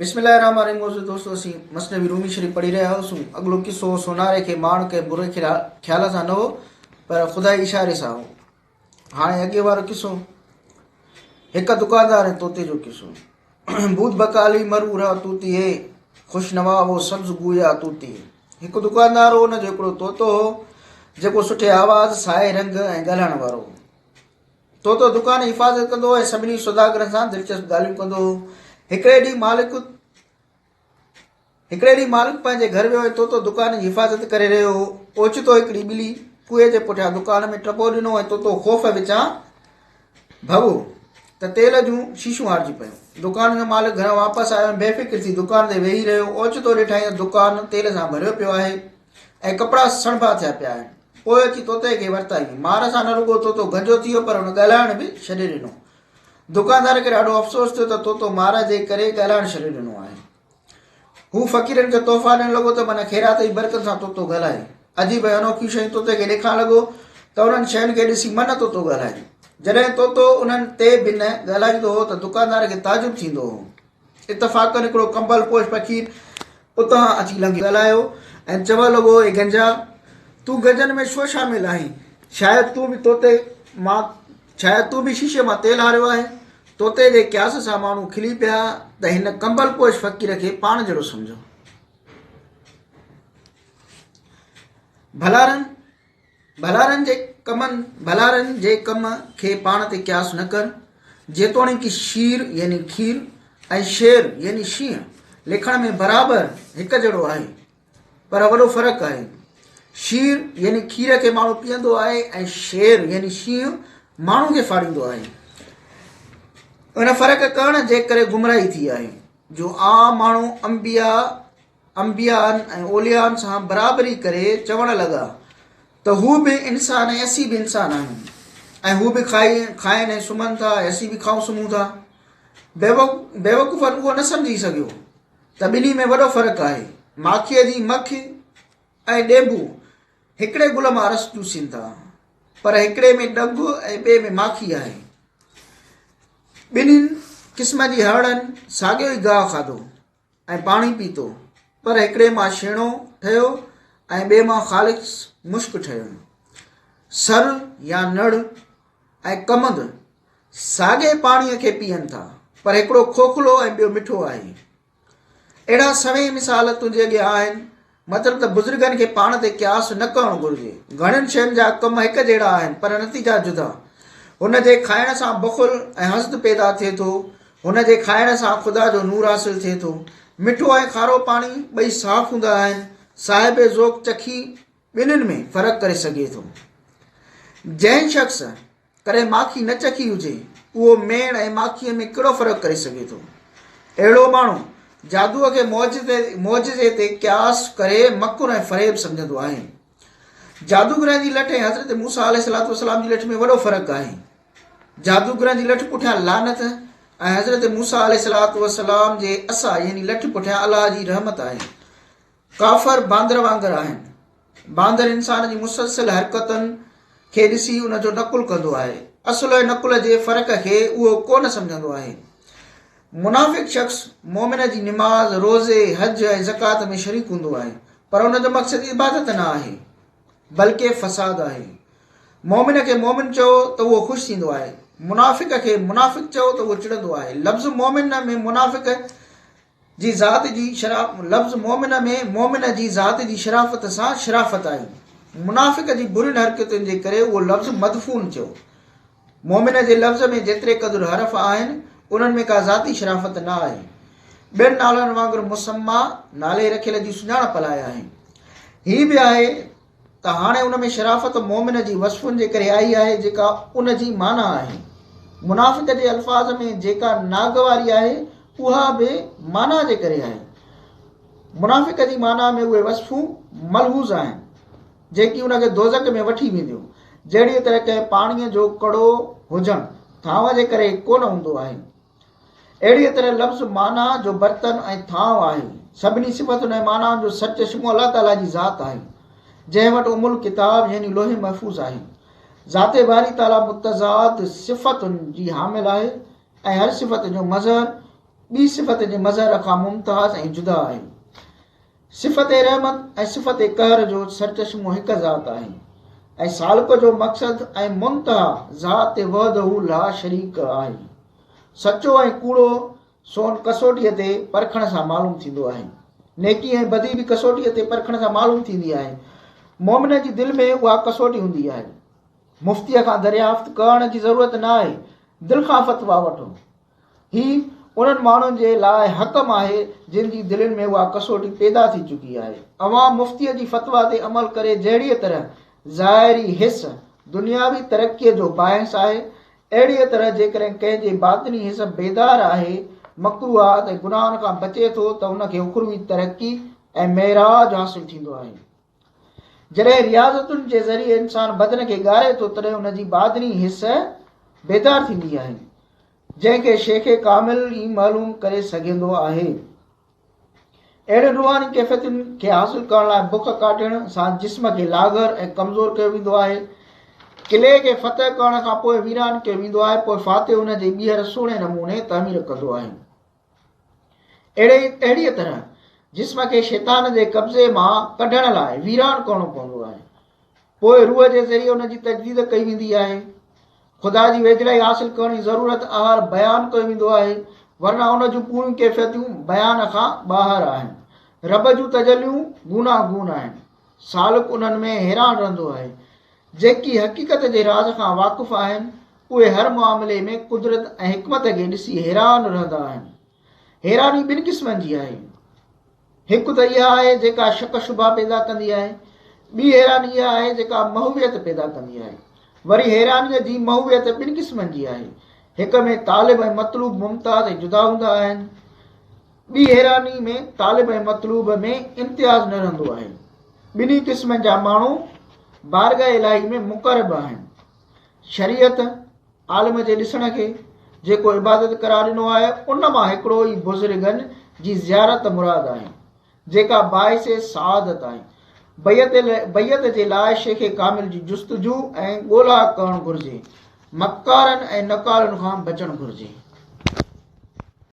بسم الله الرحمٰن الرحيم معزز دوستو اسين مثنوي رومي شريف پڙهي رهيا هئاسون اڳلو قصو هو سوناري کي ماڻ ڪنهن بري خيال سان نه هو پر خدائي اشاري سان هو هاڻي اڳي وارو قصو هڪ دڪاندار ۽ طوطي جو قصو بود بکالي مر اورا طوطي هي خوش نوا هو سبز گويا طوطي هڪ دڪاندار هو ان جو هڪڙو طوطو هو جيڪو سٺي آواز سائي رنگ ۽ ڳالهائڻ وارو هو تو تو دڪان حفاظت ڪندو ۽ سڀني سوداگرن سان دلچسپ ڳالهيون ڪندو هو. هڪڙي ڏينهن مالڪ هڪڙي ڏينهن مالڪ پنهنجي گهر ويو ۽ تو تو دڪان جي حفاظت ڪري رهيو هو. اوچتو هڪڙي ٻلي ڪوئي جي پٺيان دڪان ۾ ٽپو ڏنو ۽ تو تو خوف وچان ڀڳو ته تيل جون شيشون هارجي پيون. دڪان جو مالڪ گهران واپس آيو ۽ بي فڪر ٿي دڪان تي ويهي رهيو. اوچتو ڏٺائين ته دڪان تيل سان ڀريو پيو آهي. ۽ ڪپڙا سڻڀا ٿيا پيا آهن. پوء اچي طوطي کي ورتائين. مار سان نه رڳو طوطو گنجو ٿي ويو پر هن ڳالهائڻ به ڇڏي ڏنو. دڪاندار کي ڏاڍو افسوس ٿيو ته طوطو مار جي ڪري ڳالهائڻ ڇڏي ڏنو آهي. هو فقيرن کي تحفا ڏيڻ لڳو ته من خيرات جي برڪت سان طوطو ڳالهائي. عجيب ۽ انوکيون شيون طوطي کي ڏيکان لڳو ته انهن شين کي ڏسي من طوطو ڳالهائي. جڏهن طوطو انهن تي بنهه ڳالهائيندو هو ته دڪاندار کي تعجب ٿيندو هو. اتفاقن هڪڙو ڪمبل پوش فقير اتان اچي لنگهي ڳالهايو ۽ چوڻ لڳو، اي گنجا! تون گجن ۾ ڇو شامل آهين؟ شايد تون به توتي مان شايد تون به شيشي مان تيل هاريو آهي. توتي جي قياس سان ماڻهو کلي پيا ته هن ڪمبل پوش فقير کي پاڻ جهڙو سمجهو. ڀلارن! ڀلارن جي ڪمن، ڀلارن جي ڪم، کي پاڻ تي قياس نه ڪر، جيتوڻيڪ شير يعني کير ۽ شير يعني شينهن لکڻ ۾ برابر هڪ جهڙو آهي، پر وڏو فرق آهي. شير يعني کير کي ماڻهو پيئندو آهي ۽ شير يعني شينهن ماڻهو کي ڦاڙيندو آهي. ان فرق ڪرڻ جي ڪري گمراهي ٿي آهي، جو عام ماڻهو انبياء، انبيائن ۽ اوليائن سان برابري ڪري چوڻ لڳا ته هو به انسان ۽ اسين به انسان آهيون ۽ هو به کائي کائن ۽ سمهن ٿا ۽ اسين به کائون سمهون ٿا بيوقوفن اهو نه سمجهي سگهيو ته ٻنهي ۾ وڏو فرق آهي ماکيء جي مک ۽ ڏينڀو هڪڙي گل مان رس چوسين ٿا پر هڪڙي ۾ ڏنڀ ۽ ٻئي ۾ ماکي آهي ٻنهين قسمن جي هرڻن ساڳيو ئي گاهه کاڌو ۽ پاڻي پيتو، پر هڪڙي مان شينو ٺهيو ۽ ٻئي مان خالص مشڪ ٺهيو. سر يا نڙ ۽ ڪمند ساڳئي پاڻيء کي پيئن ٿا، پر هڪڙو کوکلو ۽ ٻيو مٺو آهي. اهڙا سوين مثال تنهنجي اڳيان آهن، مطلب ته بزرگن کي پاڻ تي قياس نه ڪرڻ گهرجي. گهڻين شين جا ڪم هڪ جهڙا آهن پر نتيجا جدا. هن جي کائڻ سان بخل ۽ حسد پيدا ٿئي ٿو. هن جي کائڻ سان خدا جو نور حاصل ٿئي ٿو. مٺو ۽ کارو پاڻي ٻئي صاف هوندا آهن. صاحب ذوق چکي ٻنهين ۾ فرق ڪري سگهي ٿو. جنهن شخص ڪڏهن ماکي نه چکي هجي، اهو ميڻ ۽ ماکيء ۾ ڪهڙو فرق ڪري سگهي ٿو؟ اهڙو ماڻهو، جادوء کي معجزي تي قياس ڪري مڪر ۽ فريب سمجهندو آهي. جادوگرن جي لٺ ۽ حضرت موسيٰ عليه السلام جي لٺ ۾ وڏو فرق آهي. جادوگرن جي لٺ پٺيان لعنت ۽ حضرت موسيٰ عليه السلام جي عصا يعني لٺ پٺيان الله جي رحمت آهي. ڪافر باندر وانگر آهن. باندر انسان جي مسلسل حرڪتن کي ڏسي ان جو نقل ڪندو آهي. اصل ۽ نقل جي فرق کي اهو ڪو نه سمجهندو آهي. منافق شخص مؤمن جي نماز، روزي، حج ۽ زڪوات ۾ شريڪ هوندو آهي پر ان جو مقصد عبادت نه آهي بلڪه فساد آهي. مؤمن کي مؤمن چئو ته اهو خوش ٿيندو آهي. منافق کي منافق چئو ته اهو چڙندو آهي. لفظ مؤمن ۾ منافق جي ذات جي شرافت، لفظ مؤمن ۾ مؤمن جي ذات جي شرافت سان شرافت آئي. منافق جي برين حرڪتن جي ڪري اهو لفظ مدفون ٿيو. مؤمن جي لفظ ۾ جيتري قدر حرف آهن، انهن ۾ ڪا ذاتي شرافت نه آهي. ٻين نالن وانگر مسميٰ، نالي رکيل، جي سڃاڻپ لاء آهي. هي به آهي. ته هاڻي ان ۾ شرافت مؤمن جي وصفن جي ڪري آئي آهي جيڪا ان جي معنيٰ آهي. منافق جي الفاظ ۾ جيڪا ناگواري آهي اها به معنيٰ جي ڪري آهي. منافق جي معنيٰ ۾ اهي وصفون ملحوظ آهن جيڪي ان کي دوزخ ۾ وٺي وينديون جهڙيء طرح ڪنهن پاڻيء جو ڪڙو هجڻ ٿانء جي ڪري ڪونه هوندو آهي. اهڙيء طرح لفظ معنيٰ جو برتن ۽ ٿانو آهي. سڀني صفتن ۽ معنائن جو سرچشمو الله تعاليٰ جي ذات آهي، جنهن وٽ ام الڪتاب يعني لوح محفوظ آهي. ذات باري تعاليٰ متضاد صفتن جي حامل آهي ۽ هر صفت جو مظهر ٻي صفت جي مظهر کان ممتاز ۽ جدا آهي. صفت رحمت ۽ صفت قهر جو سرچشمو هڪ ذات آهي ۽ سالڪ جو مقصد ۽ منتها ذات وحده لا شريڪ آهي. سچو ۽ ڪوڙو سون ڪسوٽيء تي پرکڻ سان معلوم ٿيندو آهي. نيڪي ۽ بدي به ڪسوٽيء تي پرکڻ سان معلوم ٿيندي آهي. مؤمن جي دل ۾ اها ڪسوٽي هوندي آهي. مفتيء کان دريافت ڪرڻ جي ضرورت ناهي، دل کان فتويٰ وٺو. هي انهن ماڻهن جي لاء حڪم آهي جن جي دلين ۾ اها ڪسوٽي پيدا ٿي چڪي آهي. اوهان مفتيء جي فتويٰ تي عمل ڪري جهڙيء طرح ظاهري حس دنياوي ترقيء جو باعث آهي، اهڙيء طرح جيڪڏهن ڪنهن جي باطني حس بيدار آهي، مڪروهات ۽ گناهن کان بچي ٿو ته ان کي اخروي ترقي ۽ معراج حاصل ٿيندو آهي. جڏهن رياضتن جي ذريعي انسان بدن کي ڳاري ٿو تڏهن ان جي باطني حس بيدار ٿيندي آهي جنهن کي شيخ ڪامل ئي معلوم ڪري سگهندو آهي اهڙين روحاني ڪيفيتن کي حاصل ڪرڻ لاء بک ڪاٽڻ سان جسم کي لاغر ۽ ڪمزور ڪيو ويندو آهي قلعي کي فتح ڪرڻ کان پوء ويران ڪيو ويندو آهي پوء فاتح ان جي ٻيهر سهڻي نموني تعمير ڪندو آهي اهڙي اهڙيء طرح جسم کي شيطان جي قبضي مان ڪڍڻ لاء ويران ڪرڻو پوندو آهي پوء روح جي ذريعي ان جي تجديد ڪئي ويندي آهي خدا جي ويجهڙائي حاصل ڪرڻ جي ضرورت آهر بيان ڪيو ويندو آهي ورنه ان جون پوريون ڪيفيتون بيان کان ٻاهر آهن رب جون تجليون گونا گون آهن سالڪ انهن ۾ حيران رهندو آهي جيڪي حقيقت جي راز کان واقف آهن، اهي هر معاملي ۾ قدرت ۽ حڪمت کي ڏسي حيران رهندا آهن. حيراني ٻن قسمن جي آهي. هڪ ته اها آهي جيڪا شڪ شبها پيدا ڪندي آهي. ٻي حيراني اها آهي جيڪا محويت پيدا ڪندي آهي. وري حيرانيء جي محويت ٻن قسمن جي آهي. هڪ ۾ طالب ۽ مطلوب ممتاز ۽ جدا هوندا آهن. ٻي حيراني ۾ طالب ۽ مطلوب ۾ امتياز نه رهندو آهي. ٻنهي قسمن جا ماڻهو بارگاهه الاهي ۾ مقرب آهن. شريعت، عالم جي ڏسڻ کي، جيڪو عبادت قرار ڏنو آهي، ان مان هڪڙو ئي بزرگن جي زيارت مراد آهي، جيڪا باعث سعادت آهي. بيعت بيعت جي لاء شيخ ڪامل جي جستجو ۽ ڳولا ڪرڻ گهرجي. مڪارن ۽ نقالن کان بچڻ گهرجي.